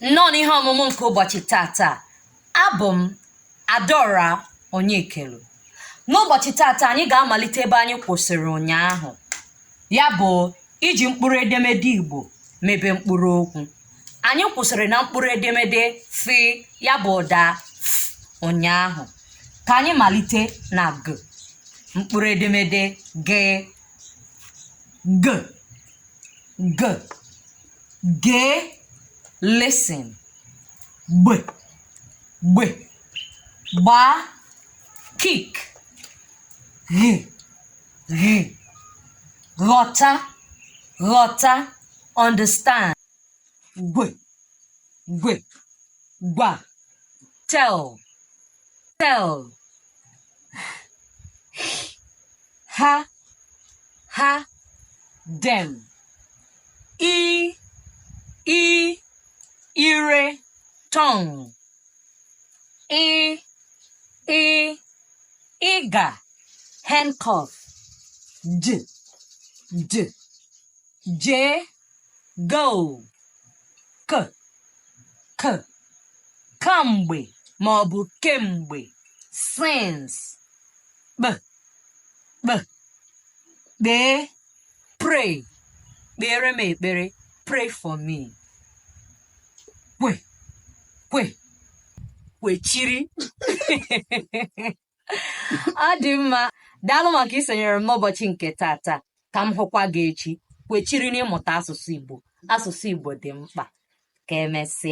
nnọọ n'ihe ọmụmụ nke ụbọchị tata abụ m adaora onyekelu n'ụbọchị tata anyị ga-amalite ebe anyị kwụsịrị ụnyaahụ ya bụ iji mkpụrụ edemede igbo mebe mkpụrụ okwu anyị kwụsịrị na mkpụrụ edemede fi ya bụ ụda f ụnyaahụ ka anyị malite na g mkpụrụ edemede g g g gee listen gb gb gbaa kick gh gh ghọta ghọta understand gw gw gwa tell tell ha ha dem i i ire tongue ị ị ịga handcuff d d jee go k k kamgbe ma ọ bụ kemgbe since kp kp kpee pray kpeere m ekpere pray for me kw kw kwechiri ọ dị mma daalụ maka isonyere m n'ụbọchị nke tata ka m hụkwa gị echi kwechiri n'ịmụta asụsụ Igbo asụsụ Igbo dị mkpa ka emesịa